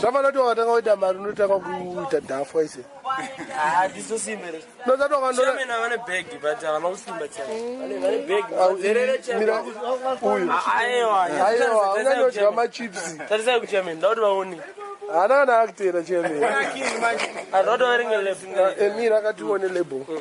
zvafanira kuti wakatanga kuita mari unotanga kuita dhafwa ise unyanyodywa machipsi haana kana akutera chemira akatione label mm.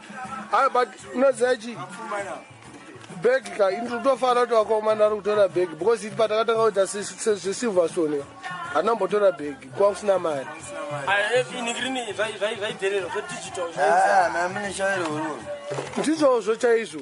Haa but unoziva chii bag ka ini tinotofanira kuti vakaomana ari kutora bag because iti patakatanga kuita zvesilverstone ka hana mbotora bag kuva kusina mari ndizvozvo chaizvo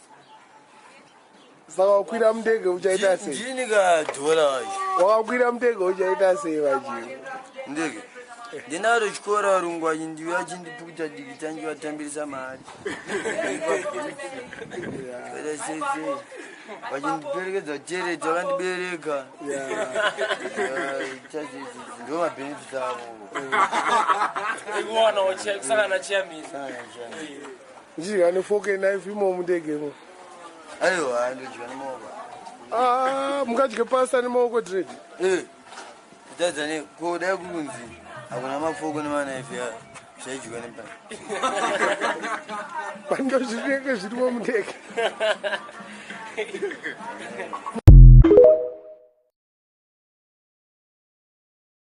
saka wakwira mudege uchaita sei ndini ka dhora wacho wakakwira mudege uchaita sei vajii ndege ndinaro chikora varungu vachi ndive vachindipukuta diki tange vatambirisa mari vachindiperekedza tereti vakandibereka ndo mabhenefits avo ikuwana wachikusangana chiyamisa Ndichidya nefork and knife imo mundege imo. Aiwa ndidya nemaoko. Ah, mungadye pasta nemaoko dread. Eh. Kutadza ne kuda kunzi hakuna mafoko nemanaifi ya zvaidyiwa nepani. Pando zvinenge zvirimo mundege.